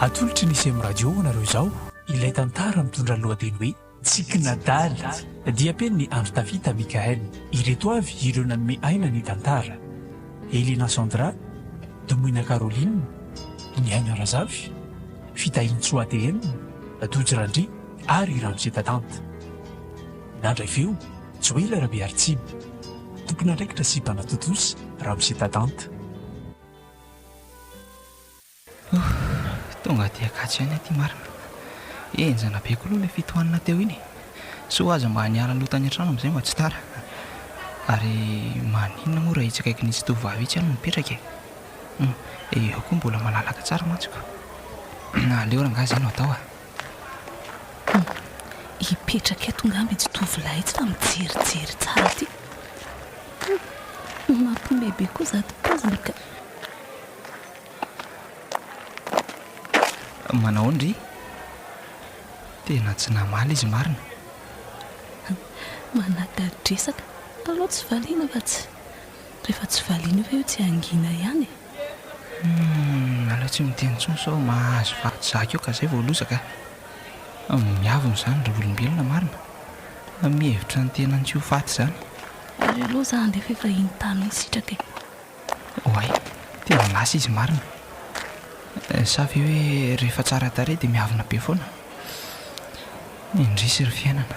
Atolotry ny Sem Radio ho anareo izao ilay tantara mitondra ny lohateny hoe Tsikin'adala. Diam-penin'i Andry Tafita Mickaël. Ireto avy ireo nanome aina ny tantara, Helena Sandra, Domoina Caroline, Niaina Razafy, Fitahintsoa TM, Tojo Randria ary Ramose Tatanta. Nandray feo Joël Rabearitsiby, tompon'andraikitra sy mpanatontosa, Ramose Tadanta. Ohh, tonga aty Ankatso ihany aty marina. Henjana be koa aloha ilay fitohanana teo iny e! Soa aza mba niala aloha tany an-trano amin'izay mba tsy tara. Ary maninona moa raha itsy akaikin'itsy tovovavy itsy aho no mipetraka e? Humm, eo koa mbola malalaka tsara mantsiko. Aleo rangahy izay no atao a! Hum. Hipetraka eto ngamba itsy tovolahy itsy fa mijerijery tsara aty. Hum. Mampime be koa zato poziny ka. Manao ahoana ry? Tena tsy namaly izy marina. Manadadresaka. Aleo tsy valiana fa tsy. Rehefa tsy valiana io ve io tsy hangina ihany e. Humm aleo tsy miteny intsony sao mahazo vato zaka eo ka zay vao lozaka a! Miavona izany ry olombelona marina fa mihevitra ny tenany tsy ho faty izany. Aleo aloha za handefa efa iny tany iny sitraka e! Oay! Tena lasa izy marina! Sa ve hoe rehefa tsara tarehy dia miavona be foana? Indrisy ry fiainana!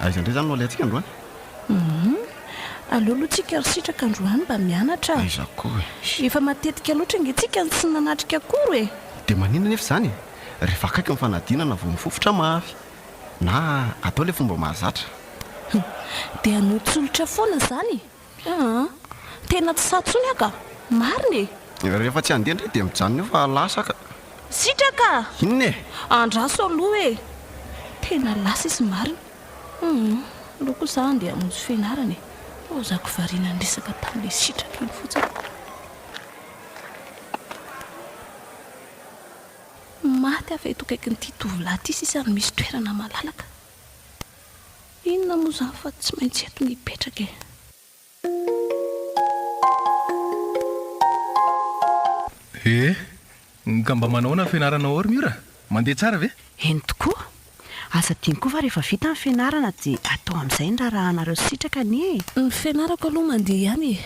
Aiza indray izany no alehantsika androany? Humm. Aleo aloha tsika ry Sitraka androany mba mianatra a! Aiza koa e! Efa matetika loatra ange tsika no tsy nanatrika akory e! Dia maninona anefa izany e! Rehefa akaiky ny fanadinana vao mifofotra mafy. Na atao ilay fomba mahazatra. Humm. Dia hanotsolotra foana izany e! Aa! Tena tsy sahy tsony aho ka! Marina e! Rehefa tsy handeha ndray dia mijanona eo fa lasa ka! Sitraka! Inona e! Andraso aloha e! Tena lasa izy marina! Hum! Aleo kosa aho handeha hamonjy fianarana e! Ho zako variana niresaka tamin'ilay Sitraka iny fotsiny! Maty aho fa eto akaikin'ity tovolahy ity sisa no misy toerana malalaka! Inona moa izany fa tsy maintsy eto no hipetraka e! He! Ka mba manao ahoana ny fianarana ao ry Mira? Mandeha tsara ve? Eny tokoa! Aza adino koa fa rehefa vita ny fianarana dia atao amin'izay ny raharahanareo sitraka anie e! Ny fianarako aloha mandeha ihany e!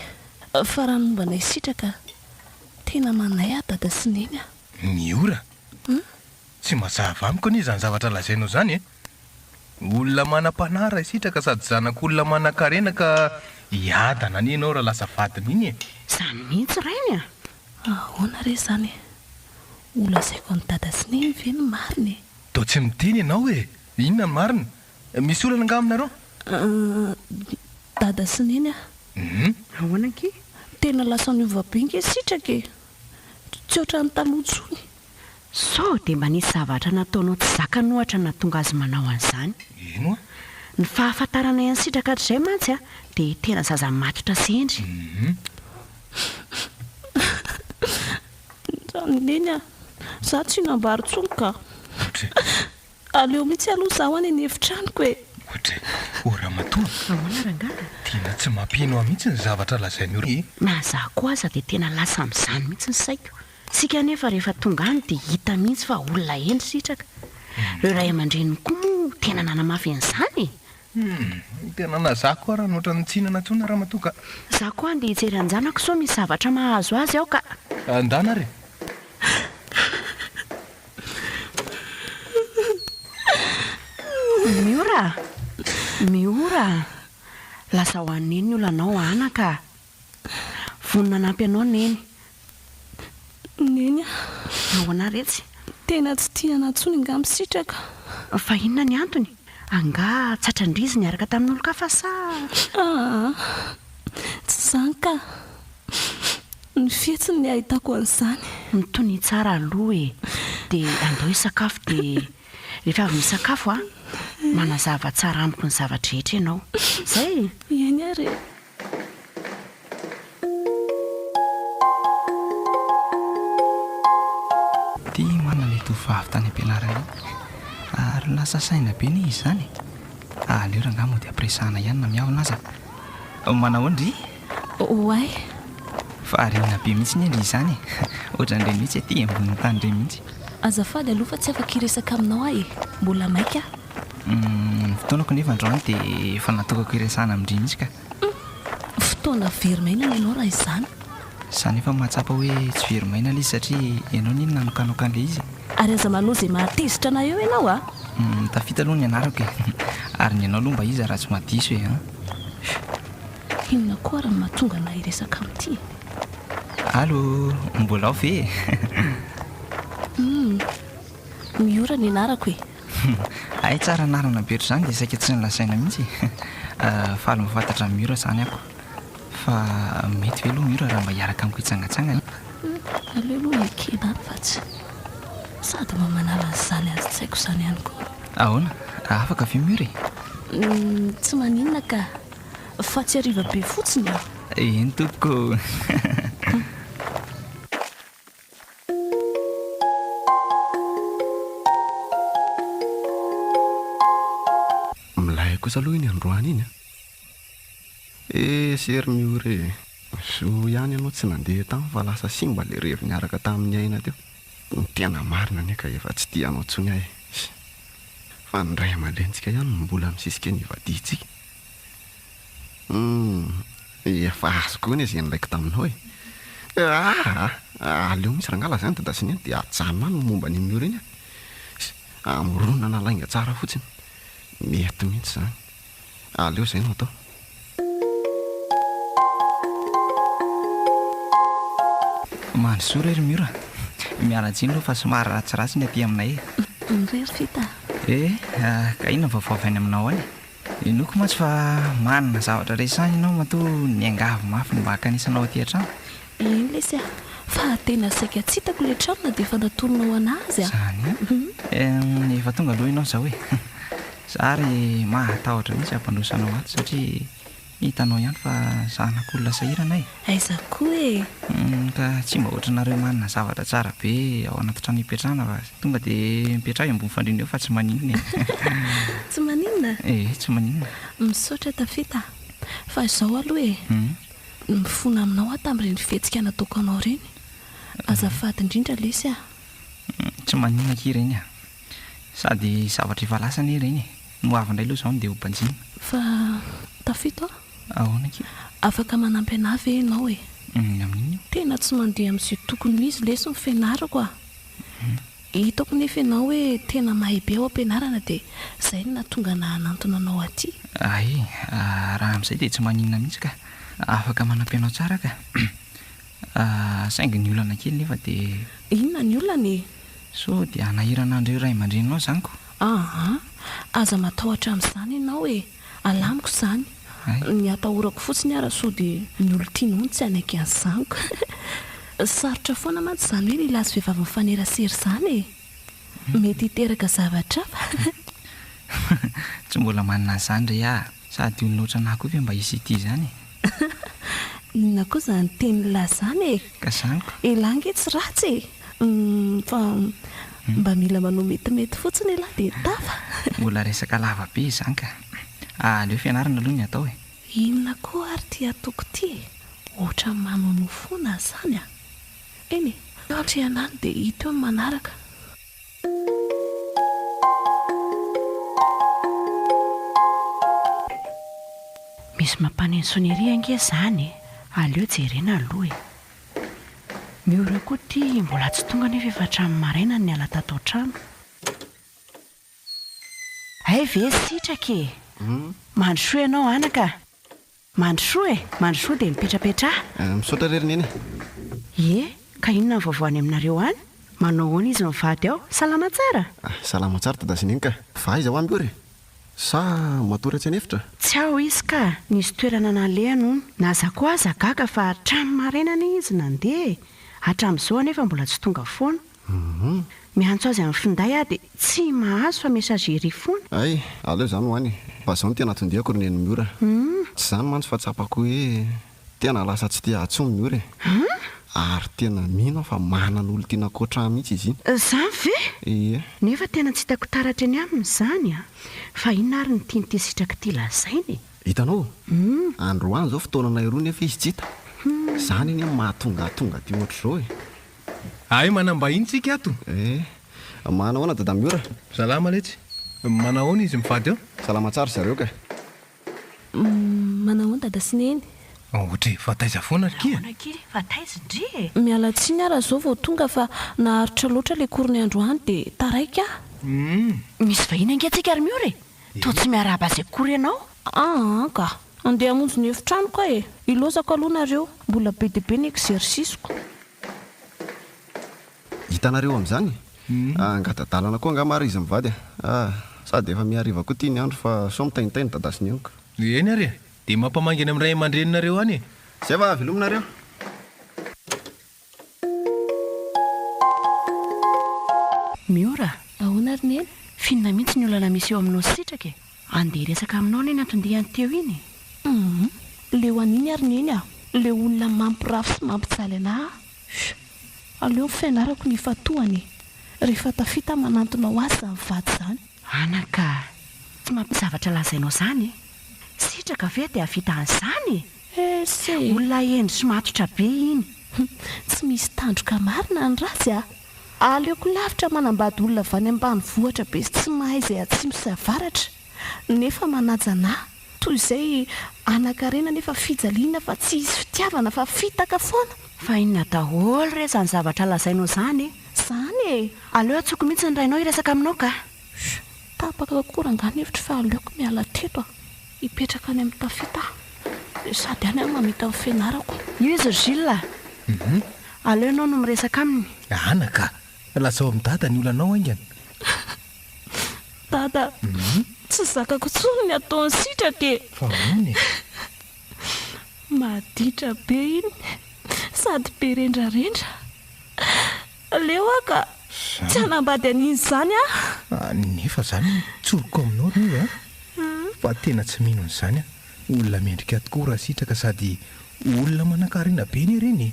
Fa raha ny momba anay sitraka, tena manay aho dada sy neny a! Mira! Tsy mazava amiko anie izany zavatra lazainao izany e! Olona manam-panahy raha hisitraka sady zanak'olona manankarena ka hiadana anie ianao raha lasa vadiny iny e! Izany mihitsy rainy a! Ahoana re izany e! Ho lazaiko an'i dada sy neny ve ny marina e! Toa tsy miteny ianao e! Inona ny marina? Misy olana angaha aminareo? Ahh, dada sy neny a! Hum. Ahoana ankia? Tena lasa niova be ange sitraka e! Tsy ohatran'ny taloha intsony. Sao dia mba nisy zavatra nataonao tsy zakany ohatra nahatonga azy manao an'izany? Eny oa. Ny fahafantaranay an'i Sitraka hatrizay mantsy a, dia tena zaza matotra sy hendry. Ndrano neny a! Za tsy hinam-bary intsony ka! Aleo mihitsy aloha zaho any an'efitranoko e! Ohatry ô ramatoa a! Ahoana rangahy? Tena tsy mampino ahy mihitsy ny zavatra lazainao e! Na za koa aza dia tena lasa amin'izany mihitsy ny saiko. Tsika anefa rehefa tonga any dia hita mihitsy fa olona hendry sitraka. Ireo ray aman-dreniny koa moa tena nanamafy an'izany e! Humm, tena nazako ary an'ohatra ny tsy hinana tsony ramatoa ka. Za koa andeha hijery anjanako sao misy zavatra mahazo azy ao ka. Andana ary e! Miora a! Miora a! Lasa ho an'i Neny ny olanao ana ka. Vonona hanampy anao Neny. Neny a. Nahoana retsy? Tena tsy tia anà tsony angaha misitraka. Fa inona ny antony? Angaha tratran-dry izy niaraka tamin'olon-kafa sa? Aa. Tsy izany ka. Ny fihetsiny ny ahitako an'izany. Mitonia tsara aloha e. Dia andao hisakafo dia rehefa avy misakafo a, manazava tsara amiko ny zava-drehetra ianao. Izay e. Eny ary e. Tia hoanina ilay tovovavy tany am-pianarana iny. Ary lasa saina be anie izy izany e! Aleo rangahy mody ampiresahana ihany na miavona aza. Manao ahoana ry? Oay! Variana be mihitsy anie ry izany e! Ohatran'ireny mihitsy aty ambonin'ny tany ireny mihitsy. Azafady aloha fa tsy afaka hiresaka aminao aho e! Mbola maika aho. Ny fotoanako nefa androany dia efa natokako hiresahana amin-dry mihitsy ka. Humm! Fotoana very maina ny anao raha izany. Za nefa mahatsapa hoe tsy very maina ilay izy satria ianao anie no nanokanoka an'ilay izy e! Ary aza manao izay mahatezitra anay eo ianao a! Humm! Tafita aloha ny anarako e! Ary ny anao aloha mba iza raha tsy maha diso e! Humm! Inona koa ary no mahatonga anay hiresaka amin'ity e! Allo! Mbola ao ve e? Humm! Miora ny anarako e! Humm hay tsara anarana be otrzany dia saika tsy nolazaina mihitsy e! Faly mahafantatra an'i Mura zany aho. Fa mety ve aloha Mura raha mba hiaraka amiko hitsangatsangana e? Humm aleo aloha ekena any fa tsy. Sady mba manala an'izany azon-tsaiko izany ihany koa. Ahoana? Afaka ve Mura e? Humm tsy maninona ka! Fa tsy hariva be fotsiny an! Eny tompoko! Milay kosa aloha iny androany iny an! Esy ery ny ora e! Zo ihany ianao tsy nandeha tany fa lasa simba ilay revy niaraka tamin'i Aina teo. Ny tena marina anie ka efa tsy tia anao intsony aho e! Fa ny ray aman-drenintsika ihany no mbola misisika ny hivadiantsika. Humm, efa azoko hoe nezin raiko taminao e! Aah, aleo mihitsy rangahy lazainy dada sy neny dia ajanona any ny momba an'i Mio ireny a! Amoronana lainga tsara fotsiny, mety mihitsy izany. Aleo izay no atao. Mandrosoa re ry Mio a! Miala-tsiny aloha fa somary ratsiratsy ny aty aminay e! Ry Rita a! Eh, ka inona ny vaovao avy any aminao any? Henoiko mantsy fa manana zavatra resahina ianao matoa niangavy mafy ny mba hankanisanao aty an-trano. Eny lesy a! Fa tena saika tsy hitako ilay trano na dia efa natoronao anà aza a! Izany a! Hum, efa tonga aloha ianao izao e! Za ary mahatahotra mihitsy hampandroso anao ato satria Hitanao ihany fa zanak'olona sahirana e! Aiza koa e! Humm ka tsy mba ohatranareo manana zavatra tsara be ao anaty trano ipetrahana fa tonga dia mipetraha eo ambony fandriana eo fa tsy maninona e! Tsy maninona? Ee, tsy maninona. Misaotra Tafita a! Fa izao aloha e! Nifona aminao aho tamin'ireny fihetsika nataoko anao ireny. Azafady indrindra lesy a! Tsy maninona akia ireny a! Sady zavatra efa lasa anie ireny e! Ny ho avy indray aloha izao no dia ho banjina. Fa tafita aho. Ahoana akia? Afaka manampy anah ve ianao e? Amin'ny inona io? Tena tsy mandeha amin'izay tokony ho izy lesy ny fianarako a! Hitako nefa ianao hoe tena mahay be ao am-pianarana dia izay no nahatonga anah hanantona anao aty. Hay, raha amin'izay dia tsy maninona mihitsy ka! Afaka manampy anao tsara aho ka! Ah, saingy ny olana kely nefa dia. Inona ny olana e? Sao dia hanahirana an'ireo ray aman-dreninao izany ko? Aa, aza matahotra amin'izany ianao e! Alamiko izany. Ay. Ny atahorako fotsiny ara sao dia. Ny olon-tianao no tsy hanaiky an'izany ko! Sarotra foana mantsy izany hoe lehilahy sy vehivavy mifanerasera izany e! Mety hiteraka zavatra hafa. Tsy mbola manana an'izany re aho. Sady olona ohatran'ny ahy koa ve mba hisy hitia izany e? Inona koa izany teny la izany e? Ka izany ko. Elah ange tsy ratsy e! Humm fa mba mila manao metimety fotsiny elah dia tafa. Mbola resaka lava be izany ka. Aleo fianarana aloha ny atao e! Inona koa ary ity ataoko ity e? Ohatran'ny manonofoana izany a! Eny e, eo antrehanany dia hita eo ny manaraka. Misy mampaneno sonnerie ange izany e! Aleo jerena aloha e! Ny ora koa ity mbola tsy tonga nefa efa hatramin'ny maraina no niala tato an-trano. Hay ve sitraka e! Mandrosoa ianao anaka a! Mandrosoa e! Mandrosoa dia mipetrapetraha. Ah, misaotra re ry Neny a! Ie, ka inona ny vaovao any aminareo any? Manao ahoana izy mivady ao? Salama tsara? Ah, salama tsara Dada sy Neny ka! Va aiza ho any koa re? Sa matory atsy an'efitra? Tsy ao izy ka! Nisy toerana nalehany hono. Na za koa aza gaga fa hatramin'ny maraina anie izy nandeha e! Hatramin'izao anefa mbola tsy tonga foana. Humm. Miantso azy amin'ny finday aho dia tsy mahazo fa messagerie foana. Hay, aleo zany ho any e. Fa zao no tena tondihako ry neny Miora. Humm. Tsy zany mantsy fa tsapako hoe tena lasa tsy te ahy tsony Miora e. Humm. Ary tena mino aho fa manana olon-tiana ankoatra ahy mihitsy izy iny. Zany ve? Ie. Nefa tena tsy hitako taratra eny aminy izany a! Fa inona ary ny tian'ity sitraka ity lazaina e? Hitanao? Humm. Androany izao fotoananay roa nefa izy tsy hita. Humm. Zany anie no mahatonga ahy tonga aty ohatr'izao e. Hay manam-bahiny tsika ato. Eh. Manahoana Dada Miora? Salama letsy. Manahoana izy mivady ao? Salama tsara zareo ka. Manahoana Dada sy Neny? Ohatra e, fa taiza foana ry kia? Ahoana kely fa taiza ndry e? Miala tsiny aho raha zao vao tonga fa naharitra loatra le cours-ny androany de taraiky aho. Humm. Misy vahiny ange tsika ry Miora e. Toa tsy miarahaba sekory ianao. Aa ka. Andeha hamonjy ny efitranoko aho e! Ilaozako aloha nareo, mbola be dia be ny exercice-ko. Hitanareo amin'izany? Angadadalana koa angaha ma r'izy mivady a! Sady efa mihariva koa ity ny andro fa sao mitaintaina i Dada sy Neniko. Eny ary e! Dia mampamangy any amin'ny ray aman-dreninareo any e! Zay va, velominareo. Miora, ahoana ary Neny? Finona mihitsy ny olana misy eo aminao sy Sitraka e! Andeha hiresaka aminao anie ny anton-diany teo iny e! Humm! Leo an'iny ary Neny a! Leo olona mampirafy sy mampijaly anà aho! Fy! Aleo ny fianarako no ifantohana e! Rehefa tafita manantona ho azy izany vady izany! Ana ka! Tsy mampisy zavatra lazainao izany e! Sitraka ve dia hahavita an'izany e! Ese! Olona hendry sy matotra be iny. Hum, tsy misy tandroka marina ny ratsy a! Aleoko lavitra manambady olona avy any ambanivohitra be sy tsy mahay izay atsimo sy avaratra, nefa manaja anà, toy izay hanan-karena nefa fijaliana fa tsy hisy fitiavana fa fitaka foana! Fa inona daholo re izany zavatra lazainao izany e? Izany e! Aleo antsoiko mihitsy ny rainao hiresaka aminao ka! Tapaka kokoa rangah ny hevitro fa aleoko miala teto a! Hipetraka any amin'ny tafita aho sady any aho mamita ny fianarako. Io izy ry Gilles a! Aleo ianao no miresaka aminy. Anaka a! Lazao amin'i Dada ny olanao haingana. Dada tsy zakako intsony ny ataony sitraka e! Fa ahoana e? Maditra be iny sady be rendrarendra. Aleo aho ka tsy hanambady an'iny izany aho. Nefa izany no tsoriko aminao ry Niva a! Fa tena tsy mino an'izany aho. Olona mendrika tokoa raha sitraka sady olona manankarena be ny hareny e!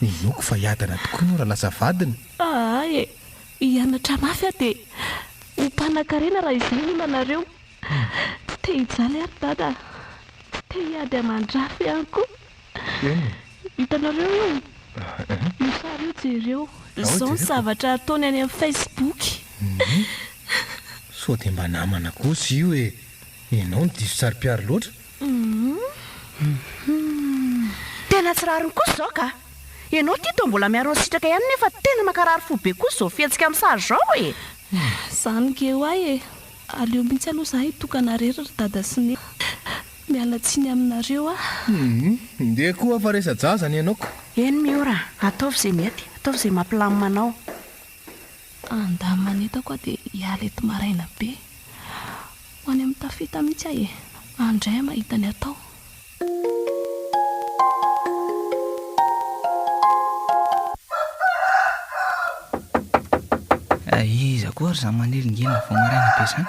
Inoako fa hiadana tokoa ianao raha lasa vadiny. Aa e! Hianatra mafy aho dia ho mpanankarena raha izay no olana-reo. Tsy te-hijaly aho ry Dada a! Tsy te-hiady aman-drafy ihany koa. Hitanareo io? Io sary io jereo. Izao ny zavatra ataony any amin'ny Facebook. Sao dia mba namana kosa io e! Ianao no diso saro-piaro loatra. Tena tsy rariny kosa izao ka! Ianao ity toa mbola miaro ny sitraka ihany nefa tena mankarary fo be kosa izao fihetsika amin'ny sary izao e! Izany nge ho'ahy e! Aleo mihitsy aloha izaho hitokana irery ry dada sy neny. Miala tsiny aminareo aho. Ndeha koa fa resa-jaza ny anao ko. Eny Miora, ataovy izay mety, ataovy izay mampilamina anao. Handà manentako aho dia hiala eto maraina be. Ho any amin'ny tafita mihitsy aho e! Any indray aho mahita ny atao. Iza koa ary izany manelingena vao maraina be izany?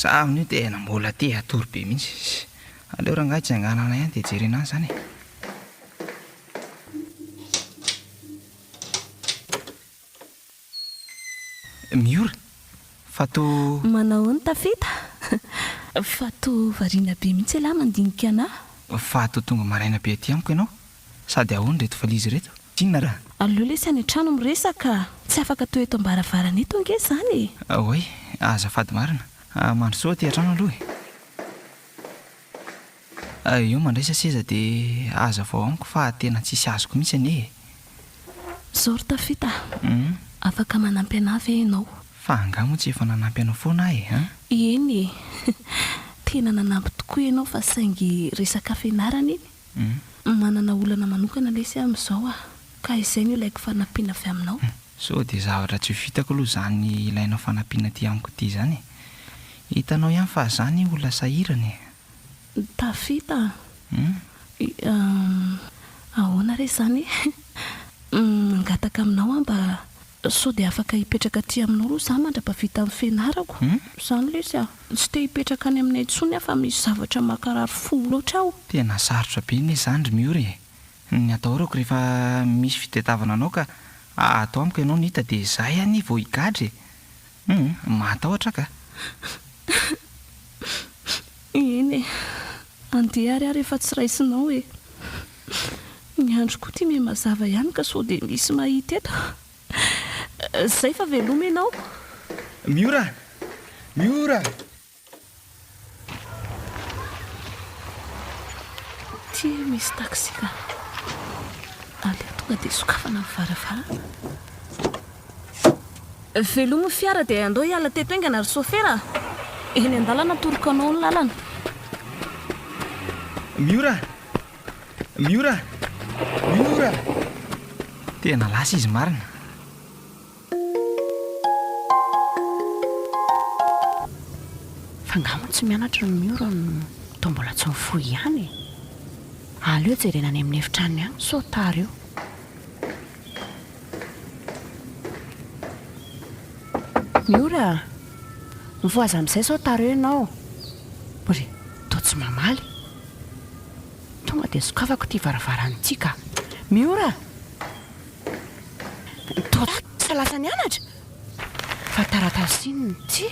Za amin'io tena mbola te hatory be mihitsy. Aleo rangahy tsanganana ihany dia jerena an' izany e. Miora, fa toa. Manao ny tafita. Fa toa variana be mihitsy ialahy mandinika anah. Fa toa tonga maraina be aty amiko ianao. Sady ahoana ireto valizy ireto? Inona raha. Aleo lesy any an-trano miresaka. Tsy afaka toa eto am-baravarana eto ange izany e! Oay, azafady marina. Mandrosoa aty an-trano aloha e! Ary eo mandraisa seza de hazavao amiko fa tena tsisy azoko mihitsy anie e! Zao ry Tafita a! Afaka manampy anah ve ianao? Fa angaha moa tsy efa nanampy anao foana aho e an! Eny e! Tena nanampy tokoa ianao fa saingy resaka fianarana iny, manana olana manokana lesy aho amin'izao a! Ka izay no ilaiko fanampiana avy aminao. Sao dia zavatra tsy ho vitako aloha izany ilainao fanampiana aty amiko ity izany e! Hitanao ihany fa zah anie olona sahirana e! Tafita an! Ahoana re izany e! Mangataka aminao aho mba sao dia afaka hipetraka aty aminao aloha izaho mandra-pahavita ny fianarako. Izany lesy a! Tsy te hipetraka any aminay intsony aho fa misy zavatra mankarary fo loatra aho. Tena sarotra be anie izany ry Miora e! Ny atahorako rehefa misy fitadiavana anao ka ato amiko ianao no hita dia izahay anie vao higadra e! Humm! Mahatahotra ka! Eny e! Andeha ary aho rehefa tsy raisinao e! Ny andro koa ity miha-mazava ihany ka sao dia misy mahita eto! Izay fa veloma ianao! Miora! Miora! Aty misy taxi ka. Aleo tonga dia sokafana ny varavarana. Velomy ny fiara dia andao hiala teto haingana ry sofera a! Eny an-dalana atoroko anao ny lalana. Miora! Miora! Miora! Tena lasa izy marina. Fa nga moa tsy mianatra ny miora no toa mbola tsy mifoha ihany e! Aleo jerena any amin'ny efitranony any sao tara eo. Miora a! Mifoha aza amin'izay sao tara eo ianao. Bry, toa tsy mamaly. Tonga dia sokafako ity varavarana ity ka. Miora! Taotrisa lasa nianatra? Fa taratasy inona ity?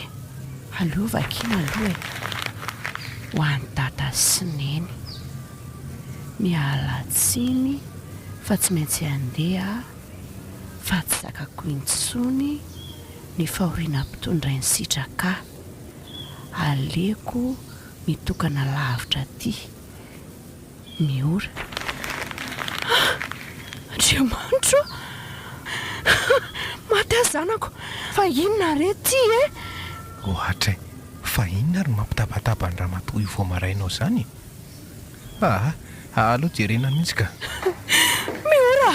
Aleo vakiana aloha e! Ho an'i Dada sy Neny. Miala tsiny fa tsy maintsy handeha aho fa tsy zakako intsony ny fahoriana mpitondrain'i Sitraka. Aleoko mitokana lavitra aty. ny ora. Ah! Andriamanitro a! Maty aho zanako! Fa inona re ty e? Ohatry e! Fa inona ary mampitabataba an'i ramatoa io vao maraina ao izany e? Aa! Aleo jerena mihitsy ka! Ny ora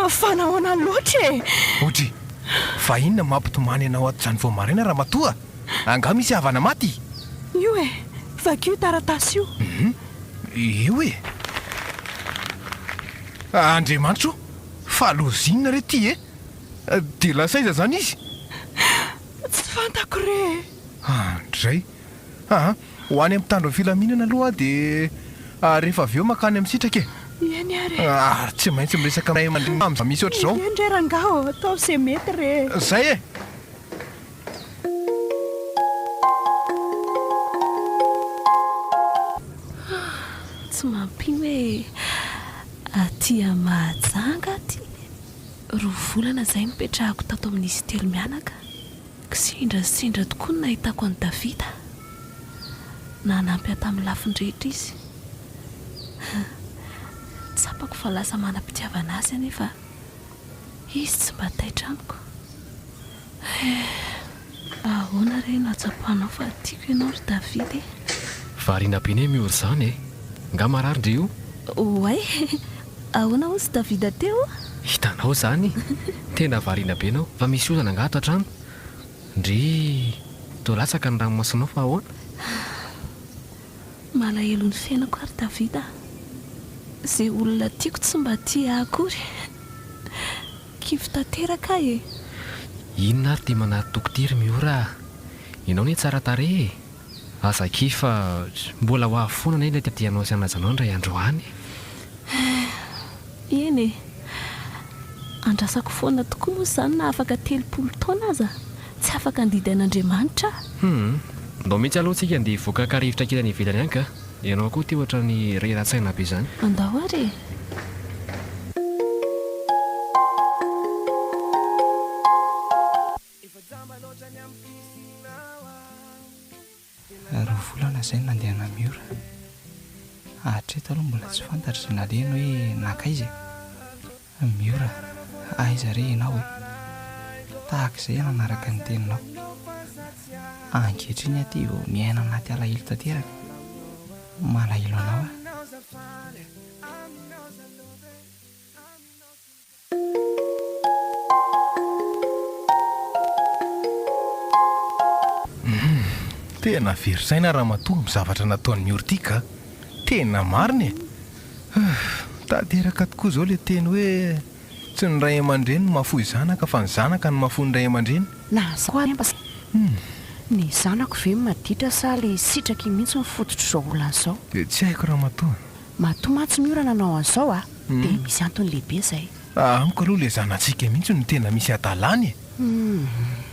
a! Fa nahoana loatra e? Odry! Fa inona mampitomany anao ato izany vao maraina ramatoa? Angaha misy havana maty? Io e! Vakio io taratasy io! Hum! Io e! Andriamanitra o! Fa lozinina re ty e! Dia lasa aiza izany izy? Tsy fantako re e! Andray! Aa! Ho any amin'ny mpitandro ny filaminana aloha aho dia rehefa avy eo mankany amin'ny sitraka e! Eny ary e! Ary tsy maintsy miresaka amin'ny ray aman-dreniny amin'ny zava-misy ohatr'izao! Eny re rangaha ô! Ataovy izay mety re e! Izay e! Tsy mampino hoe aty Mahajanga aty, roa volana izay no nipetrahako tato amin'izy telo mianaka ka sendra sy sendra tokoa ny nahitako an'i Davida. Nanampy ahy tamin'ny lafiny rehetra izy. Tsapako fa lasa manam-pitiavana azy aho nefa izy tsy mba taitra amiko. Eh! Ahoana re no ahatsapanao fa tiako ianao ry David e? Variana be ne Mior zany e! Nga marary ndry io? Oay! Ahoana hozy David teo? Hitanao zany! Tena variana be nao! Fa misy olana nga ato antrano? Ndry toa latsaka ny ranomasonao fa ahoana? Malahelo ny fiainako ary David a! Ze olona tiako tsy mba tia ahy akory! Kivy tanteraka aho e! Inona ary ity manatoko ity ry Miora a! Ianao anie tsara tarehy e! Aza kivy fa mbola ho avy foana anie ilay tadianao sy hanajanao indray andro any e! Eh! Eny e! Andrasako foana tokoa moa izany na afaka telopolo taona aza, tsy afaka handidy an'Andriamanitra aho! Hum! Ndao mihitsy aloha tsika andeha hivoaka kary hivitrankina any ivelany any ka! Ianao koa ity ohatrany reratsaina be zany. Andao ary e! Roa volana izay no nandeha namiora. Hatreto aloha mbola tsy fantatro izay nalehany hoe nankaiza e. Miora, aiza re ianao e? Tahaka izay nanaraka ny teninao. Ankehitriny aty vao miaina anaty alahelo tanteraka. Malahelo anao aho. Tena very saina Ramatoa ny zavatra nataon'i Miora ity ka! Tena marina e! Ahh! Mitady iraka tokoa izao ilay teny hoe tsy ny ray aman-dreny no mahafoy zanaka fa ny zanaka no mahafoy ny ray aman-dreny. Na zao ary amba sa ny zanako ve maditra sa le sitraky iny mihitsy no fototr'izao olana zao. Dia tsy haiko ramatoa. Matoa mantsy ny orana nanao an'izao a! Dia misy antony lehibe izay. Raha amiko aloha ilay zanatsika mihitsy no tena misy hadalany e!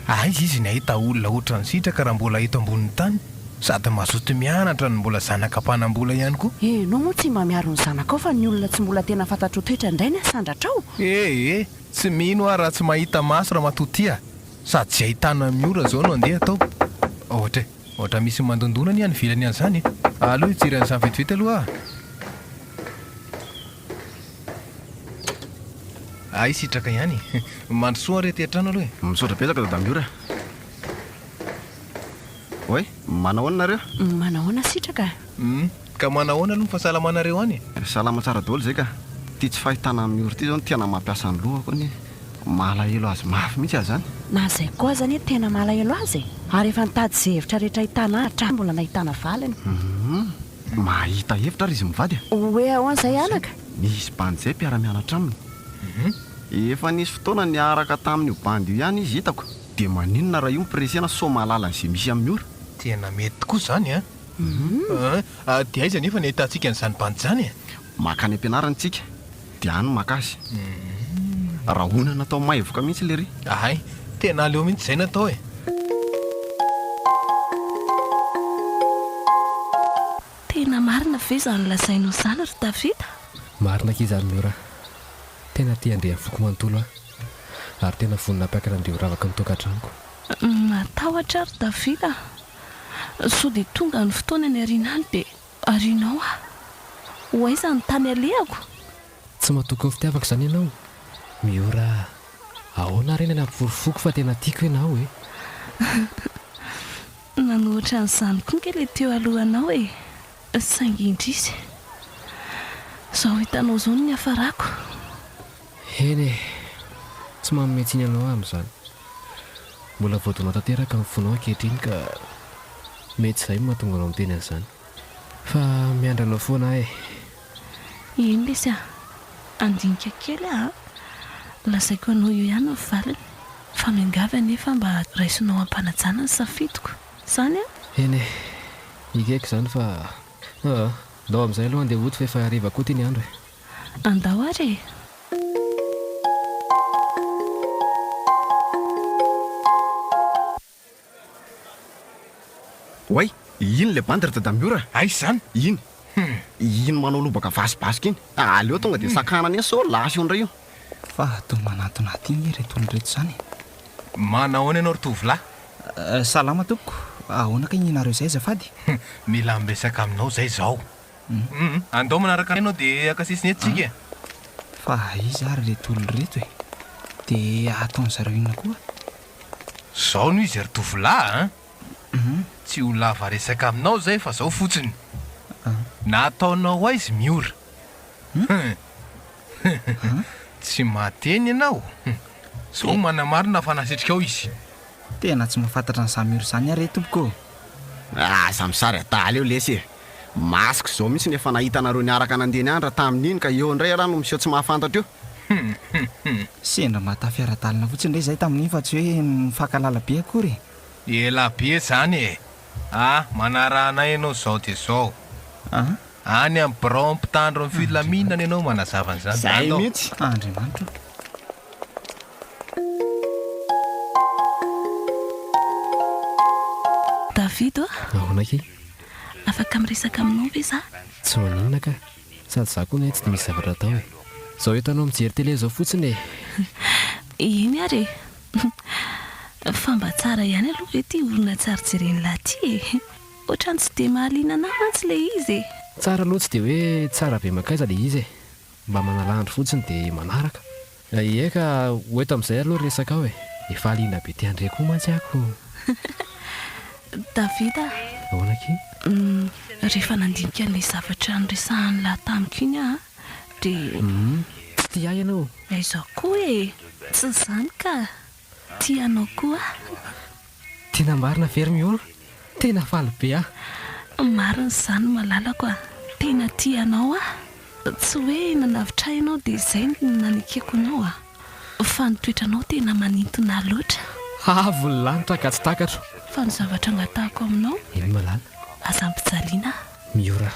Aiza izy ny hahita olona ohatran'i Sitraka raha mbola eto ambonin'ny tany? Sady mazoto mianatra no mbola zanaka mpanam-bola ihany koa. Ianao moa tsy mba miaro ny zanakao fa ny olona tsy mbola tena fantatrao toetra indray ny hasandratrao? Ee, tsy mino aho raha tsy mahita maso Ramatoa Tia a! Sady izay ahitana Miora izao no andeha atao. Ohatra e! Ohatra misy mandondona anie any ivelany any izany e! Aleo hijery an'izany vetivety aloha aho a! Hay sitraka ihany e! Mandrosoa re aty an-trano aloha e! Misaotra betsaka Dada Miora. Oay, manao ahoana nareo? Manao ahoana sitraka? Hum, ka manao ahoana aloha ny fahasalamanareo any e? Salama tsara daholo izay ka! Ity tsy fahitana an'i Miora ity izao no tena mampiasa ny lohako anie! Malahelo azy mafy mihitsy aho izany! Na izay koa aza anie tena malahelo azy e! Ary efa nitady izay hevitra rehetra ahitana ahy hatrany mbola nahitana valiny! Hum, Mahita hevitra ary izy mivady a! Hoe ahoana izay anaka? Nisy bandy izay mpiara-mianatra aminy. Efa nisy fotoana niaraka tamin'io bandy io ihany izy hitako. Dia maninona raha io mipresena sao mahalala an'izay misy amin'ny ora? Tena mety tokoa izany an! Dia aiza anefa ny ahitantsika an'izany bandy izany e? Mankany am-pianarana isika. Dia any makasy. Rahona natao maivoka mihitsy lery. Ahay, tena aleo mihitsy izay natao e. Tena marina ve izany lazainao izany ry Tafita? Marina akia izany Miora. Tena tia andriafoko manontolo aho. Ary tena vonona hampiakatra an'ireo ravaky ny tokantranoko. Matahotra aho ry Tafita. Sao dia tonga ny fotoana any aoriana any dia. Ary ianao a? Ho aiza ny tany alehako? Tsy matoky ny fitiavako izany ianao? Miora a! Ahoana ary ny any amin'ny porofoko fa tena tiako ianao e? Nanao ohatran'izany koa ange ilay teo aloha anao e! Saingy indrisy! Izao hitanao izao no niafarako. Eny e! Tsy manome tsiny anao aho amin'izany. Mbola voadona tanteraka ny fonao ankehitriny ka mety izay no mahatonga anao miteny an'izany. Fa miandry anao foana aho e! Eny lesy a! Handinika kely aho an! Lazaiko anao eo ihany ny valiny fa miangavy anefa mba raisonao am-panajana ny safidiko. Izany an! Eny e! Ekeko izany fa. Aa! Ndao amin'izay aloha handeha hody fa efa hariva koa ity ny andro e! Andao ary e! Oay! Iny ilay bandy ry dadamiora a! Aiza izany? Iny! Iny manao lobaka vasibasika iny! Aleo tonga dia sakana an'iny sao lasa eo indray io! Fa toa manantonà aty ange ireto olona ireto izany e! Manao ahoana ianao ry tovolahy? Salama tompoko! Ahoana kay ny anareo izay azafady? Mila miresaka aminao izay izaho! Humm andao manaraka anay enao de haka sesiny eto tsika e. Fa aiza ary reto olona reto e? De ataon zareo inona koa? Zao no izy ry tovolahy a! Tsy ho lava resaka aminao zay fa zao fotsiny. Nataonao aiz Miora? Tsy mahateny enao? Zao manamarina fa nasitrikao izy. Tena tsy mahafantatra an'izany Miora izany aho re tompoko ô! Aza misaraka dahalo eo lesy e! Masque zao mintsy ny efa nahita anareo niaraka nandeha ny andra tamin'iny ka eo indray ialahy no miseho tsy mahafantatra io. Hum hum hum. Sendra mba tafy ara-dalana fotsiny indray izahay tamin'iny fa tsy hoe nifankalala be akory e. Ela be izany e! A, manaraha anay ianao izao dia izao. A? Any amin'ny birao mpitandro ny filaminana ianao manazava an'izany. Izay mihitsy. Andriamanitra o. David o. Ahoana akia? Afaka miresaka aminao ve za? Tsy maninona ka. Sady za koa anie tsy dia misy zavatra atao e. Zao entanao mijery télé zao fotsiny e. Eny ary e. Fa mba tsara ihany aloha ve ty olona tsy ary jeren'lah ty e. Otrany tsy dia mahaliana anah mantsy le izy e. Tsara aloha tsy dia hoe tsara be mankaiza le izy e. Mba manala andro fotsiny dia manaraka. Ye ka, ho eto amin'izay aloha resakao e. Efa liana be ti-André koa mantsy ako. David a! Ahoana akia? Hum, rehefa nandinika an'ilay zavatra niresahan'i Lah tamiko iny aho dia. Hum, tsy tia ahy ianao. Aiza koa e! Tsy izany ka! Tia anao koa aho. Tena marina very Miôla, tena faly be aho. Marina izany malalako a. Tena tia anao aho. Tsy hoe nanavitrahinao dia izay no nanekeko anao a. Fa ny toetranao tena manintona ahy loatra. Avo ny lanitra ka tsy takatro. Fa ny zavatra angatahako aminao. Eny malala. Aza ampijaliana aho. Miora.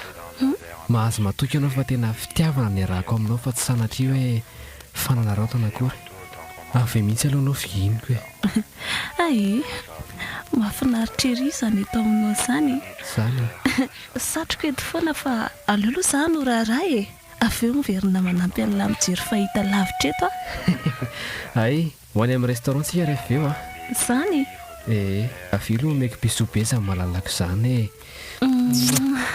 Mahazo matoky anao fa tena fitiavana no iarahako aminao fa tsy sanatria hoe fanararaotana akory. Aho ve mihitsy aloha no fihiniko e. Ae. Mahafinaritra ery izany eto aminao izany e. Izany e. Satriko eto foana fa aleo aloha izaho no raharaha e. Avy eo miverina manampy an'lah mijery fahita lavitra eto aho. Hay. Ho any amin'ny restaurant tsika ref eo a. Zany e! Ee, avy eo lo omeko bisous be za malalako zany ee. Mouah.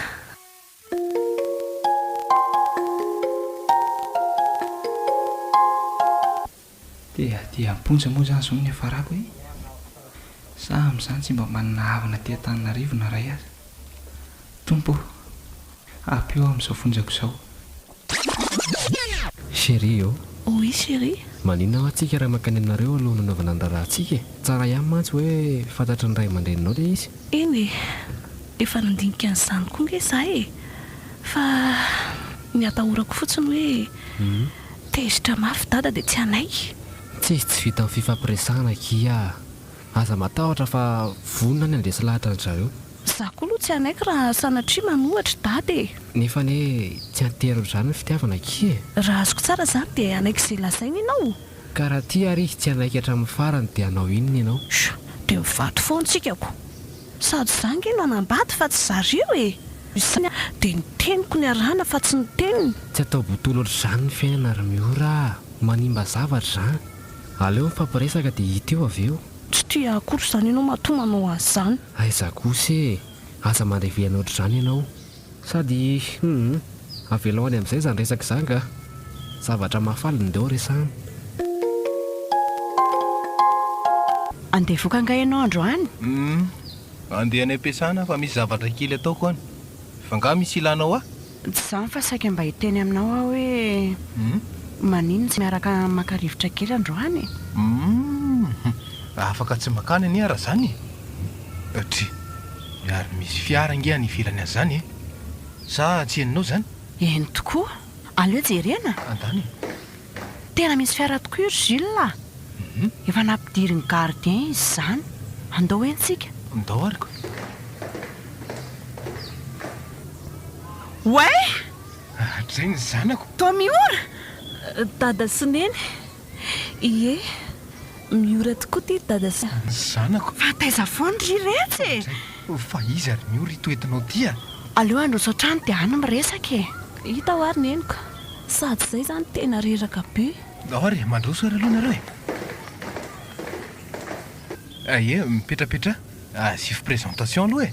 Tea tia am-ponja moa zany zao no niafarako e! Sa amin'izany tsy mba manana havana aty Antananarivo na iray aza? Tompo ô! Ampio aho amin'izao fonjako izao. Chérie ô! Oui chérie. Maninona hoa tsika raha mankany aminareo aloha nanaovana ny raharaha tsika e! Tsara ihany mantsy hoe fantatry ny ray aman-dreninao le izy. Eny e! Efa nandinika an'izany koa nge za e! Fa ny atahorako fotsiny hoe tezitra mafy dada de tsy hanaiky. Tsia tsy vitan'ny fifampiresahana akia a! Aza matahotra fa vonona ny handresy lahatra an-dry zareo. Za koa lo tsy hanaiky raha sanatria manohatra dada e! Nefa anie tsy anterin-dry zareo ny fitiavana akia e! Raha azoko tsara zany dia hanaiky izay lazainy ianao? Ka raha tia ary izy tsy hanaiky hatramin'ny farany dia hanao inona ianao? Sho! Dia mivady foana tsika ko! Sady za nge no hanambady fa tsy zareo e! Izany an! Dia ny teniko ny arahana fa tsy ny teniny! Tsy atao botolo ohatr'izany ny fiainana ry Miora a! Manimba zavatra izany! Aleo mifampiresaka dia hita eo avy eo. Tsy tia akory izany ianao matoa manao an'izany. Aiza kosa e! Aza mandray vina ohatr'izany ianao. Sady hum avelao any amin'izay izany resaka izany kah! Zavatra mahafaly no deo resahana. Andeha hivoaka angaha ianao androany? Hum andeha any am-piasana fa misy zavatra kely ataoko any. Fa angaha misy ilanao ahy? Tsy izany fa saika mba hiteny aminao aho hoe maninona tsy miaraka maka rivotra kely androany e? Humm! Afaka tsy makany anie ara zany e! Dry! Ary misy fiara ange any ivelany any zany e! Sa tsy henonao zany? Eny tokoa! Aleo jerena! Andany e! Tena misy fiara tokoa ry Jules a! Efa nampidirin'ny gardien izy izany. Andao eny tsika. Ndao ary ko. Oay! Hatrizay ny zanako. Toa Miora! Dada sy Neny. Ie, Miora tokoa ity Dada sy. Ny zanako. Fa taiza foana ry Retsy e! Hatrizay. Fa iza ry Miora ito entinao ity a? Aleo handroso hatrany dia any miresaka e! Hita ho ary Neniko. Sady zay zany tena reraka be. Ahoa re, mandroso ary aloha nareo e! Ah ye, mipetrapetra, asivo présentation aloha e!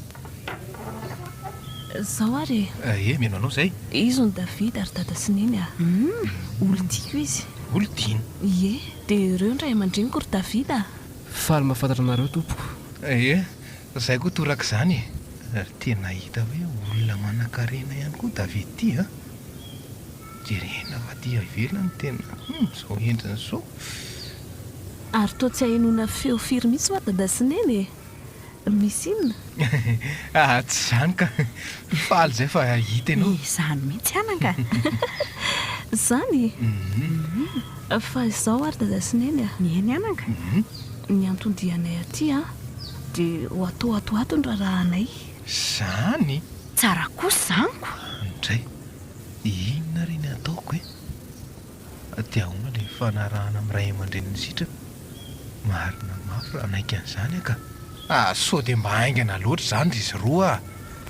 Zao ary e! Ah ye, mino anao zay! Izy hono David ary Dada sy Neny ah! Hum! Olon-tiako izy! Olon-tiana! Ye, dia ireo ny ray aman-dreniko ry David ah! Faly mahafantatra anareo tompoko! Ah ye, Zay koa torak'izany e! Ry tena hita hoe olona manankarena ihany koa David ty a! Jerena fa aty ivelany tena hum zao endriny zao. Ary toa tsy ahenoana feo firy mihitsy hoa dada sy neny e! Misy inona? Aa tsy izany ka! Faly izay fa hita ianao. Izany mihitsy an anga! Zany? Fa izao ary dada sy neny a! Mihaino ihany anga! Ny anton-dianay aty an, de ho atao ato ato ny raharahanay. Zany? Tsara kosa zany ko! Ndray, inona ary ny ataoko e? De ahoana le fanarahana amin'ny ray aman-drenin'ny sitrana? Marina mafy raha hanaiky an'izany aho ka! Ah, sao dia mba haingana loatra izany ry izy roa ah!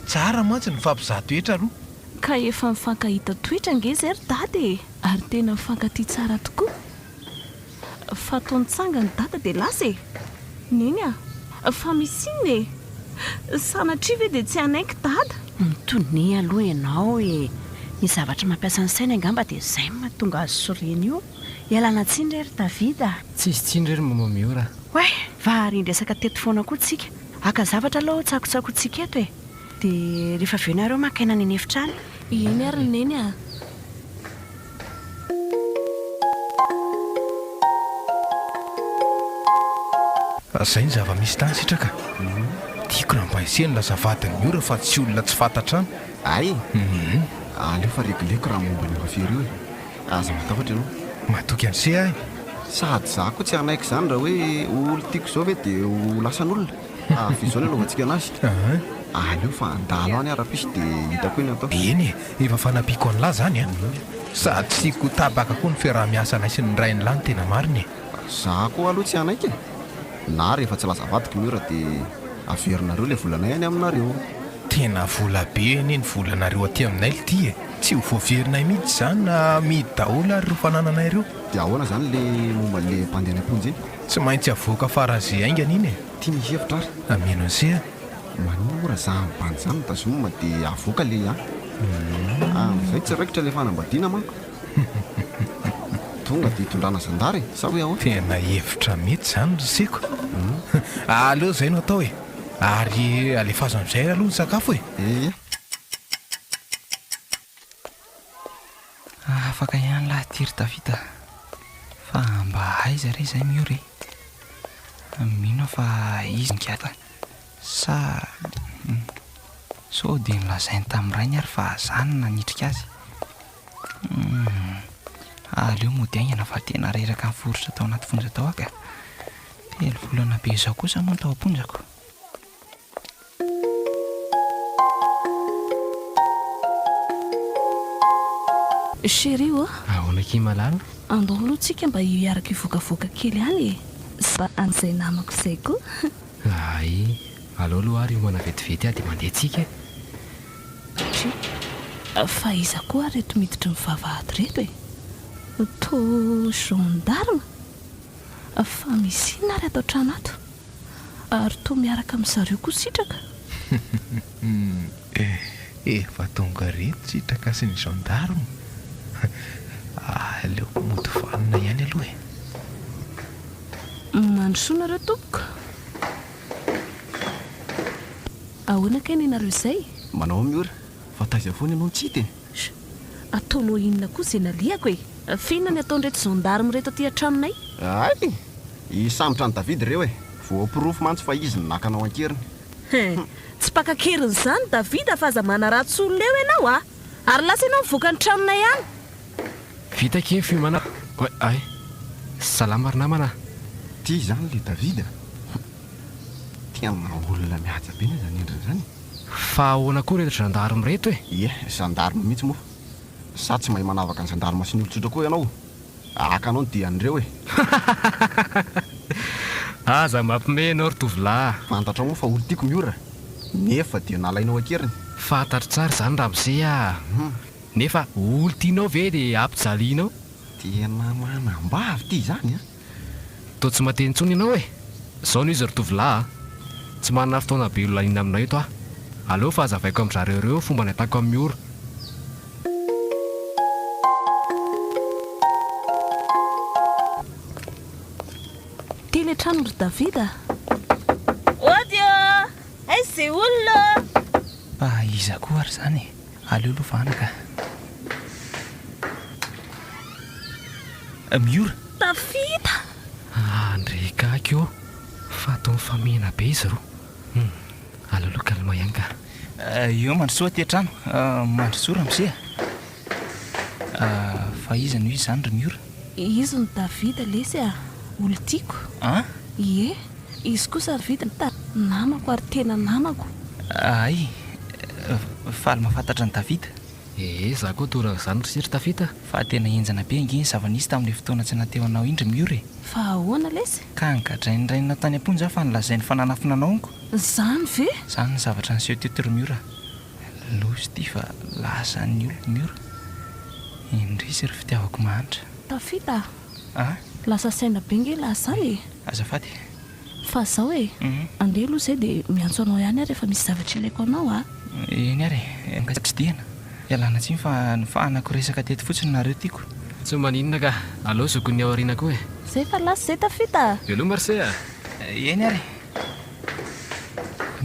Tsara mantsy ny mifampizaha toetra aloha. Ka efa mifankahita toetra ange izay ry dada e! Ary tena mifankatia tsara tokoa. Fa toa nitsangana i Dada dia lasa e! Neny a! Fa misy inona e? Sanatria ve dia tsy hanaiky Dada? Mitoniha aloha ianao e! Ny zavatra mampiasa ny sainy angamba dia izay no mahatonga azy sy Reny io. Ialana tsiny re ry David a! Tsisy tsiny re ry Mama Miora a! Oay! Varian dresaka teto foana koa tsika. Haka zavatra aloha aho tsakotsakointsika eto e! Dia rehefa avy eo nareo maka aina any an'efitra any. Eny ary Neny a! Zay ny zava-misy tany sitraka. Tiako raha mba hesehiny lasa vadin'ny ora fa tsy olona tsy fantatra an. Ay eh. Aleo fa regleko raha momba an'i Rofia ireo eh. Aza matahotra ianao. Matoky an'ise aho eh. Sady za koa tsy hanaiky izany raha hoe ho olon-tiako izao ve dia ho lasan'olona. Avy izao ilay lovantsika anazy. Ahh aleo fa handalo any aho raha pisy de hitako hoe ny atao. Eny e, efa fanampiako an'lah zany a. Sady tsy ko tabaka koa ny fiaraha-miasanay sy ny rain'lah ny tena marina e. Za koa aloha tsy hanaiky e. Na rehefa tsy laza vadiko ny ora de averinareo ilay volanay any aminareo. Tena vola be anie ny volanareo aty aminay lty e. Tsy ho voaverinay mihitsy zany na amidy daholo ary ireo fanananay ireo. De ahoana zany le momba an'le mpandeha any am-ponja iny? Tsy maintsy avoaka faran'ny ze haingana iny e! Ty ny hevitra ary. Ameno anse a! Manimora za ny bandy zany da zoom de avoaka le a! Amzay tsy raikitra le fanambadiana manko! Tonga de itondrana zandary e! Sa hoe ahoa? Tena hevitra mety zany ry seko! Aleo zay no atao e! Ary alefaso amzay aloha ny sakafo e! Ehe! Afaka ihany lahy ity ry Davida fa mba aiza re izay Miora e? Mino aho fa izy nigadra sa hum sao dia nolazainy tamin'ny rainy ary fa zany no nanitrika azy? Hum aleo mody aingana fa tena reraka niforitra tao anaty fonja tao aho ka! Telo volana be izao kosa moa no tao am-ponjako. Chérie ô! Ahoana akia malala? Andao aloha tsika mba hiaraka hivokavoka kely any e! Za an'izay namako izay koa! Ahay! Alao aloha ary homana vetivety aho dia mandeha tsika e! Chérie! Fa iza koa ary ireto miditra mivavahady ireto e? Toa gendarme? Fa misy inona ary ato an-trano ato? Ary toa miaraka amin'i zareo koa Sitraka? Efa tonga ireto Sitraka sy ny gendarme. Aleoko mody vanona ihany aloha e. Mandrosoa nareo tompoko. Ahoana kay ny anareo izay? Manao miora, fa taiza foana ianao no tsy hita e? Sh! Ataonao inona koa ze nalehako e! F'inona ny ataon'ireto gendarmes reto aty an-tranonay? Hay! Hisambotra an'i David ireo e! Voaporofo mantsy fa izy no naka anao an-keriny. He! Tsy mpaka an-keriny izany David fa aza manaratsy olona eo ianao a! Ary lasa ianao mivoaka ny tranonay any! Vita kee ny fiomana a! Hay! Salama ry namana a! Ty izany le David a! Tena olona mihaja be ny azy an'endriny izany e! Fa ahoana koa ireto gendarme ireto e? Ie, gendarme mihitsy moa. Sa tsy mahay manavaka ny gendarme sy ny olon-tsotra koa ianao? Haka anao ny dian'ireo e! Aza mampime ianao ry tovolahy. Fantatrao moa fa olon-tiako Miora, nefa dia nalainao an-keriny? Fantatro tsara izany ramose a! Nefa olon-tianao ve dia ampijalianao? Tena manambavy ity izany an! Toa tsy mahate intsony ianao e! Zao no izy ry tovolahy a! Tsy manana fotoana be hilaniana aminao eto aho. Aleo fa hazavaiko amin-dry zareo ireo fomba nahitako an'i Miora. Ty le trano ry David a! Ody ô! Aiza ze olona ô! Fa iza koa ary izany e? Aleo lovana ka. Miora. Tafita! Ah ndry gaga ô! Fa toa mifamihina be izy roa. Hum. Aleo aloha calme ihany ka. Eo Mandrosoa aty an-trano. Mandrosoa ramose a! Fa iza no iza izany ry Miora? Izy no Davida lesy a! Olon-tiako a! Ie, izy kosa ny vidiny ta! Namako ary tena namako. Ahay, faly mahafantatra an'i Davida. Ee, za koa toa ran'izany ry siry Tafita a! Fa tena henjana be ange ny zava-nisy tamin'le fotoana tsy nateo anao indry Miora e! Fa ahoana lesy? Ka nogadrain'ny rainao tany am-ponja aho fa nolazainy fa nanafina anao amiko? Zany ve? Zany ny zavatra niseho teto ry Miora. Losy ty fa lasa ny oloko ny ora. Indrisy ry fitiavako mahantra. Tafita a! Ah? Lasa saina be nge lahy zany e! Azafady. Fa zao e, andeha aloha zay dia miantso anao ihany aho rehefa misy zavatra ilaiko anao a! Eny ary e, mba tsidihana. Ialana tsiny fa nofahanako resaka teto fotsiny nareo tiako. Tsy maninona ka, aleo zokin'ny aoriana koa e! Zay efa lasa zay Tafita a! Veloma ry se a! Eny ary e!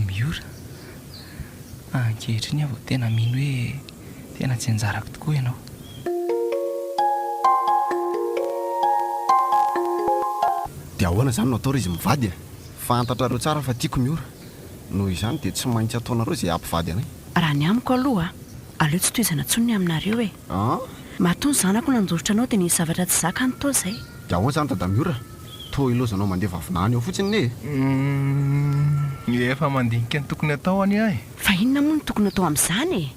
Miora. Ankehitriny aho vao tena mino hoe tena tsy anjarako tokoa ianao. Dia ahoana izany no atao raha izy mivady e? Fantatrareo tsara fa tiako ny ora. Noho izany dia tsy maintsy ataonareo izay hampivady anay. Raha ny amiko aloha, aleo tsy tohizana intsony ny aminareo e. An! Matoa ny zanako nandositra anao dia nisy zavatra tsy zakany toa izay. Dia ahoana izany Dadamiora? Toa hilaozanao mandeha vavona any ao fotsiny anie e! Uhm! Efa mandinika ny tokony atao anie aho e! Fa inona moa no tokony atao amin'izany e?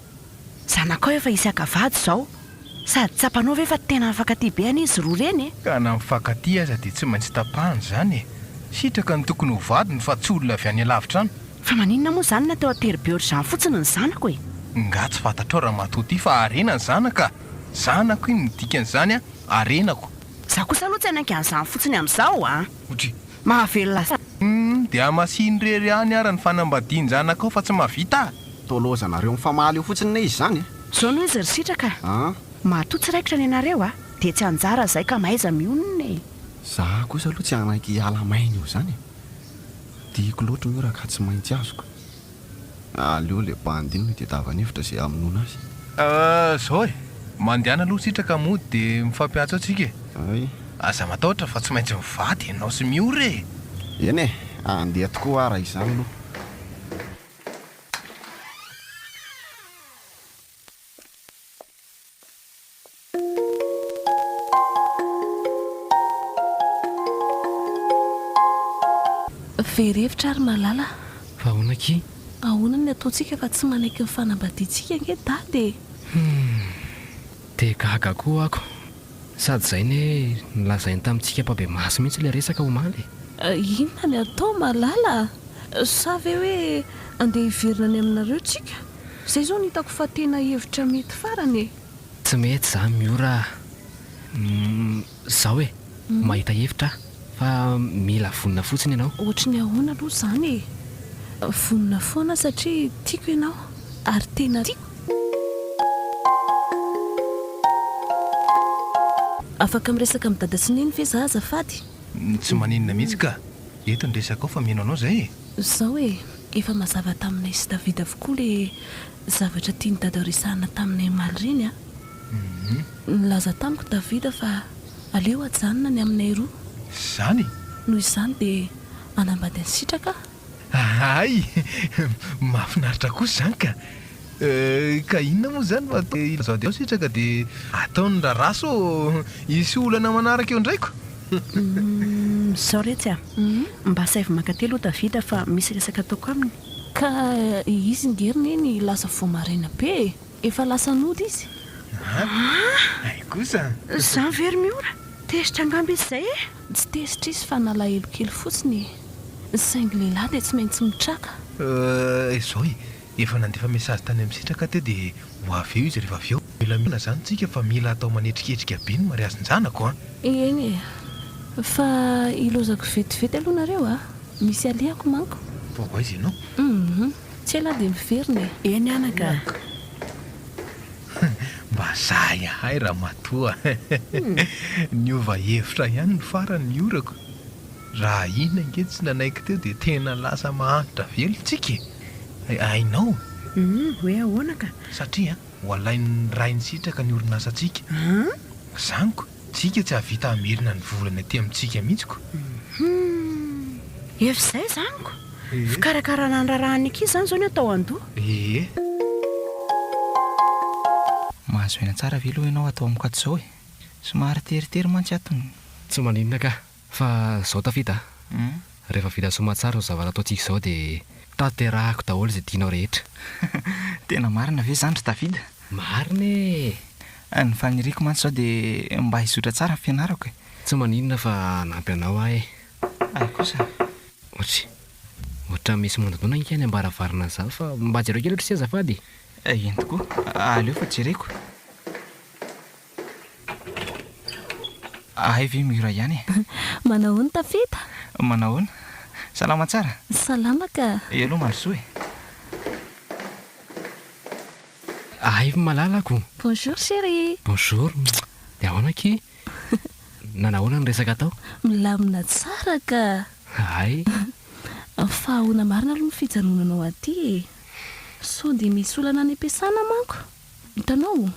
Zanakao efa hisy haka vady izao. Sady tsapanao ve fa tena mifankatia be anie izy roa ireny e? Ka na mifankatia aza dia tsy maintsy tapahana izany e! Sitraka no tokony ho vadiny fa tsy olona avy any alavitra any! Fa maninona moa izany na teo ateribeo ry zany fotsiny ny zanako e? Nga tsy fantatrao ramatoa ity fa harena ny zanaka a! Zanako iny ny dikan'izany a! Harenako! Za kosa aloha tsy hanaiky an'izany fotsiny amizao a! Otri. Mahavelona sa? Humm de hamasino rery any ara ny fanambadian-janakao fa tsy mahavita a! Toloza nareo mifamaly eo fotsiny ne izy zany e! Zao no izy ry sitraka a! An! Matoa tsy raikitra ny anareo a! Dia tsy anjara zay ka mahaiza mionona e! Za kosa aloha tsy hanaiky hiala maina eo zany e! Diako loatra io raha ka tsy maintsy azoko. Aleo ilay bandy iny no itedavany hevitra izay hamonoana azy. Ah, izao e! Mandehana aloha sitraka mody dia mifampiantso eo tsika e! Ay. Aza matahotra fa tsy maintsy mivady ianao sy Miora e! Eny e! Andeha tokoa hoa raha izany aloha. Very hevitra ary malala a! Fa ahoana aky? Ahoana ny ataontsika fa tsy manaiky ny fanambadiantsika ange dada e! Humm! Dia gaga koa ako! Sady izay ne nolazainy tamintsika mpabemaso mihitsy ilay resaka omaly e! Inona ny atao malala a! Sa ve hoe andeha hiverina any aminareo tsika? Zay zao no hitako fa tena hevitra mety farany e! Tsy mety za Miora a! Umm zao e! Mahita hevitra aho fa mila vonona fotsiny ianao. Ohatry ny ahoana aloha izany e! Vonona foana satria tiako ianao ary tena tiako. Afaka miresaka amin'i dada sy neny ve za azafady? Tsy maninona mihitsy ka! Eto ny resakao fa mino anao zay e! Zao e, efa mazava taminay sy David avokoa le zavatra tian'i Dada resahana taminay omaly reny a! Nilaza tamiko David fa aleo ajanona ny aminay roa. Zany? Noho izany dia hanambady an'i Sitraka aho. Hay! Mahafinaritra kosa izany ka! Ka inona moa izany fa te hilazao dia ao sitraka dia ataony ny raharaha sao hisy olana manaraka eo indray ko. Zao retsy a! Mba asaivo maka telo ota vita fa misy resaka ataoko aminy. Ka izy ngery neny lasa vao maraina be e! Efa lasa nody izy. An! Hay kosa! Zany ve ry Miora? Tezitra angamba izy izay e! Tsy tezitra izy fa nalahelo kely fotsiny e! Saingy lehilahy dia tsy maintsy mitraka. Izao e! Efa nandefa message tany am sitraka teo dia ho avy eo izy rehefa avy eo. Mila mihena zany tsika fa mila atao manetriketrika be ny mariazy njanako an! Eny e! Fa hilozako vetivety aloha nareo a! Misy alehako manko! Vao aiza ianao? Humm! Tsy ela aho dia miverina e! Eny anaka a! Mba zahay ahay ramatoa! Niova hevitra ihany ny farany ny orako! Raha iny ange tsy nanaiky teo dia tena lasa mahantra velon tsika e! Hainao? Humm, hoe ahoana ka? Satria ho alain'ny Rain'i Sitraka ny orinasantsika. An? Zaniko, tsika tsy hahavita hamerina ny volany aty amintsika mihitsy ko! Humm. Efa izay zaniko! Fikarakarana handrarahan'ny ankizy izany izao ny atao an-doha. Ee. Mahazo aina tsara ve aloha ianao ato amiko ato izao e? Somary teritery mantsy ato ny. Tsy maninona ka! Fa zao Tafita a, rehefa vita soamantsara ny zavatra ataontsika izao dia tanterahako daholo izay tianao rehetra. Tena marina ve izany ry Tafita? Marina e! Ny faniriako mantsy izao dia mba hizotra tsara ny fianarako e! Tsy maninona fa hanampy anao aho e! Hay kosa! Ohatry, ohatran'ny misy mandondona ange any am-baravarana izany fa mba jereo kely ohatry ity azafady e! Eny tokoa, aleo fa jereko. Ahay ve mihira ihany e? Manahoana Tafita? Manahoana? Salama tsara? Salama ka. Hello Marisoa e! Ahay ry malalako! Bonjour chérie! Bonjour! Dia ahoana akia? Nanahoana ny resaka tao? Milamina tsara ka! Ahay! Fa ahoana marina aloha ny fijanonanao aty e? Sao dia misy olana any am-piasana manko? Hitanao?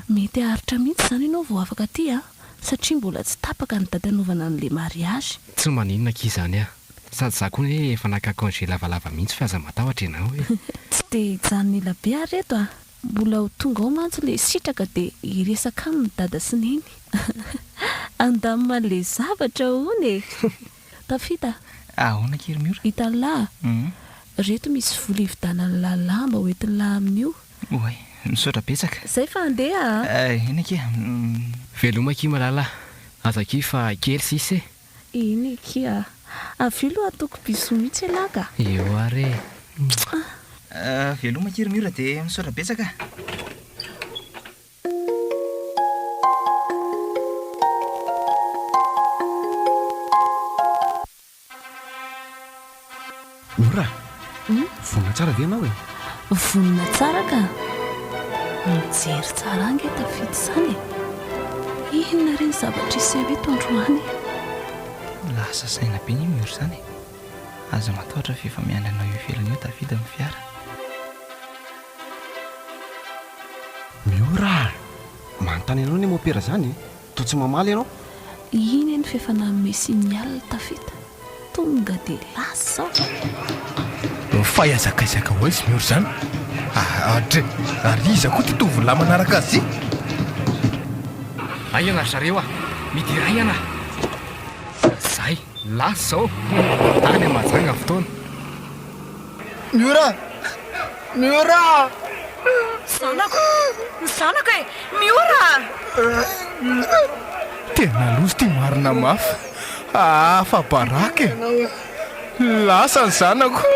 Mety haharitra mihitsy izany ianao vao afaka aty a! satria mbola tsy tapaka ny daty hanaovana an'ilay mariazy. Tsy maninona akia izany a! Sady za koa anie efa naka congé lavalava mihitsy fa aza matahotra ianao e! Tsy dia hijanona ela be ary eto a! Mbola ho tonga ao mantsy ilay sitraka dia hiresaka aminy dada sy neny! Andamina ilay zavatra hono e! Tafita a! Ahoana kely Miora? Hitan'i Lahy a! Reto misy vola hividanan'i Lahy lamba ho entin'i Lahy amin'io. Oay! Misaotra betsaka. Zay fa handeha a! Eny akia! Veloma akia malala a! Aza akia fa kely sisa e! Eny akia a! Avy eo loha ataoko bisous mihitsy elah ka! Eo ary e! Mouah! Veloma akia ry Miora dia misaotra betsaka a! Nora a! Vonona tsara ve ianao e? Vonona tsara ka! Mijery tsara ange tafita izany e! Inona re ny zavatra hiseho eto androany e? Lasa saina be ny mur izany e! Aza matahotra fa efa miandry anao eo ivelany eo tafita ny fiara. Miora a! Manontany anao anie mopera zany e! Toa tsy mamaly ianao? Iny anie f'efa nanome signal tafita, tonga de lasa aho! Fahaiza-kaizaky ahoana izy Miora izany? Aa dry! Ary iza koa ity tovolahy manaraka azy ity? Ahiana ry zareo a! Midi iray ianà! Fa zay! Lasa aho! Tany Mahajanga fotoana! Miora! Miora! Zanako! Ny zanako e! Miora! Tena loza ity marina mafy aa fa baraka e! Lasa ny zanako!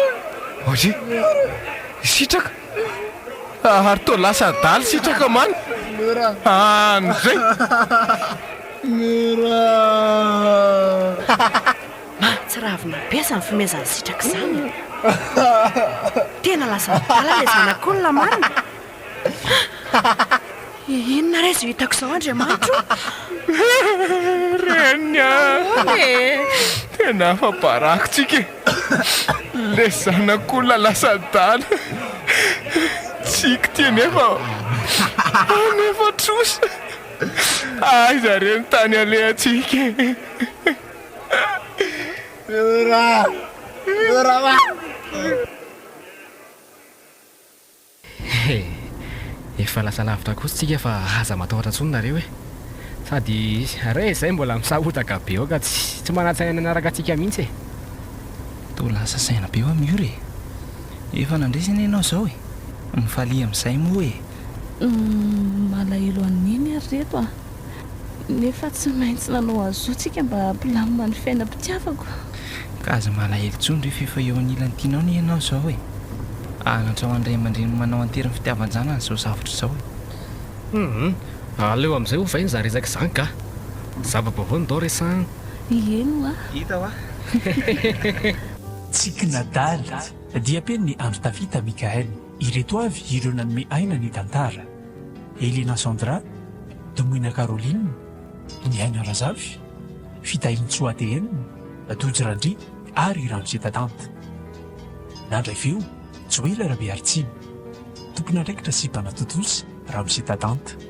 Oye! Sitraka! Ary toa lasa adala sitraka man! Any zay! Miora! Mahatsiravina be izany fomezan'i Sitraka izany. Tena lasa adala ilay zanak'olona marina. Hah! Inona re izao hitako izao Andriamanitro ô! Reny a! Ahoana e? Tena afa-baraka tsika e! Ilay zanak'olona lasa adala. Tsiky ity anefa ô! Anefa trosa! Aiza re ny tany alehantsika e! He! Efa lasa lavitra kosa tsika fa aza matahotra intsony nareo e! Sady re izay mbola misahotaka be aoka tsy manatsaina ny hanaraka antsika mihitsy e! Toa lasa saina be eo am io re! Efa nandresy anie ianao izao e! Mifalia amin'izay moa e! Malahelo an'i Neny ary reto a! Nefa tsy maintsy nanao azou tsika mba hampilamina ny fiainam-pitiavako. Ka aza malahelo tsony re f'efa eo anilan'ny tianao anie ianao izao e! Ahanatra ho an'ny ray aman-dreniny manao an-tery ny fitiavan-janany izao zavatra izao e! Hum! Aleo amin'izay ovay ny zarizaka izany ka! Zava-baovao ndao resahan! Ieny hoa! Hita hoa! Hehehehe! Tsiky nadala, diam-peno ny andro tafita Mickaël. Ireto avy ireo nanome aina ny tantara. Elena Sandra, Domoina Caroline, Nihaina Razafy, Fitahiantsoa ATM, Tojo Randria ary Ramose Tatanta. Nandray feo, Joela Rabearitsiby, tompon'andraikitra sy mpanatontosa, Ramose Tatanta.